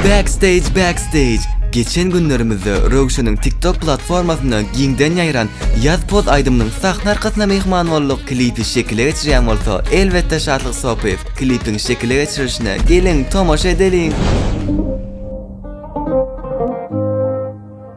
Backstage Backstage Geçen günlerimizde Röwşeniň TikTok platformasynda giňden ýaýran Ýaz poz aýdymynyň sahna arkasyna myhman bolduk, klipi şekile geçirýän bolsa elbetde Şatlyk Sopyýew, klipiň şekile geçirilişine geliň tomaşa edeliň!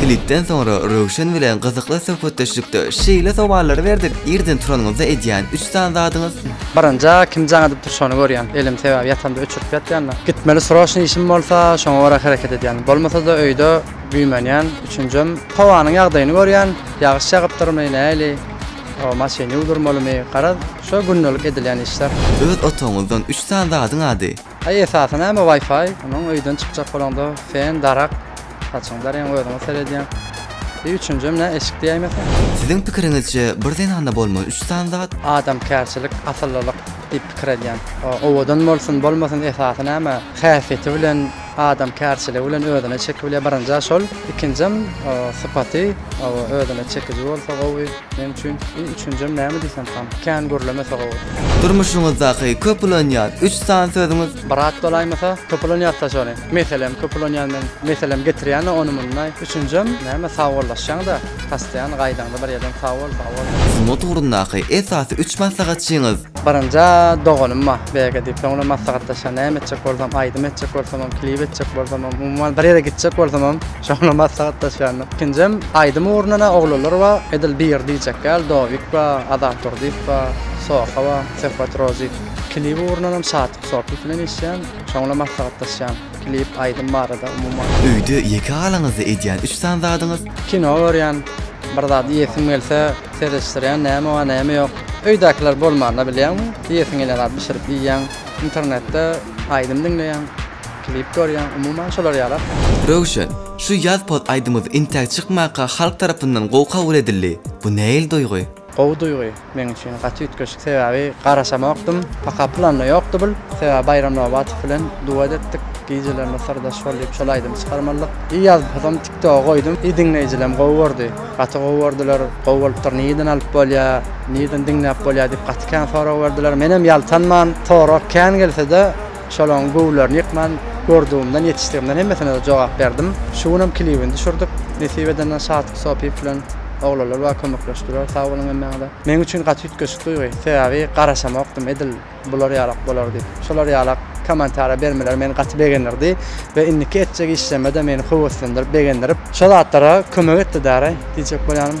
Klipden soňra Röwşen bilen gyzykly söhbetdeşlikde şeýle sowallary berdik, irden turanyňyzda edýän üç sany zadyňyz? Baranja kim jaň edip dur şony görýän, elim sebäbi ýatamda öçürip ýatýanda. Gitmeli sroşny işim bolsa şoňa görä hereket edýän. Bolmasada öýde güýmenýän. Üçünjem howanyň ýagdaýyny görýän, ýagyş ýagypdyrmy, näli, o maşyn ýuwdurmalymy, garaz şo gündelik edilýän işler. Öz otagyňyzdan üç sany zadyň ady? Aý esasy näme wifi onuň öýden çykjak bolaňda fen darak saçyňy daryň özüňe seredýäň bir üçünjem nä eşik diýäýmeseň. Siziň pikiriňizçe bir zenanda bolmaly üç sany zat? Adamkärçilik asyllylyk diýip pikir edýän o owadan bolsun bolmasyn esasy näme häsiýeti bilen adamkärçiligi bilen özüne çeki bilýär birinjä şol ikinjem sypaty özüne çekiji bolsa gowy. Meň üçin iň üçünjem näme diýsem han, kän gürleme sag bol. Durmuşyňyzdaky köp ulanýan üç sany sözüňiz? Brat bolaýmasa köp ulanýartda şony. Meselem köp ulanýan men. Meselem getirýäne ony mundaý. Üçünjem näme sagbollaşýaňda pastaýan gaýdaňda bir ýerden sag bol sag bol. Sungat ugrundaky esasy üç maslahatçyňyz? Birinjä doganym bar BG diýip soň bilen maslahatlaşýan näme etjek bolsam aýdym etjek bolsamam klip etjek bolsamam umuman bir ýere gitjek bolsamam. Şonda maslahatlaşýandyk. Ikinjem aýdym ugruna-da oglanlar bar. Edil biri diýjek däl, Dowik bar, Azat Durdyýew bar, Soha bar, Söhbet Rozik. Klip ugrundanam Şatyk Sopyýew bilen işleýän. Şoň bilen maslahatlaşýan. Klip, aýdym barada umuman. Öýde ýeke galaňyzda edýän üç sany zadyňyz? Kino görýän. Bir zat iýesim gelse, seredişdirýän, näme bar, näme ýok. Öýdäkiler bolmanda bilýäňmi, iýesiň gelýän zady bişirip iýýäň. Internetde aýdym diňleýäň. Klip görýän, umuman şolar ýalak. Röwşen, şu ýaz poz aýdymyz intäk çykmaka halk tarapyndan gowy kabul edildi. Bu nähili duýgy? Gowy duýgy, meň üçin gaty üýtgeşik sebäbi garaşamokdym, paka planda ýokdy bul, sebäbi Baýram Nobatow bilen duet etdik, gijelerine syrdaş bol diýip şol aýdymy çykarmalydyk, i ýaz pozam tiktoga goýdum, i diňleýjilem gowy gördi, gaty gowy gördüler, gowy bolupdyr nireden alyp bolýa, nireden diňläp bolýa diýip gaty kän sorag berdiler, menem ýaltanman, sorag kän gelsede, Şolaryň göwünlerini ýykman, gördügimden, ýetişdigimden hemmesine-de jogap berdim. Şu günem klibini düşürdik. Nesip edenden Şatlyk Sopiýew bilen oglanlar bar kömekleşdiler. Sag boluň hemmäňize. Meň üçin gaty üýtgeşik duýgy. Sebäbi garaşamokdym edil bular ýalak bolar diýip. Şolar ýalak kommentariýa bermeleri meni gaty begendirdi we indiki etjek işlerime-de meni höweslendirip, begendirip, şo zatlara kömek etdi däri diýjek bolýanym.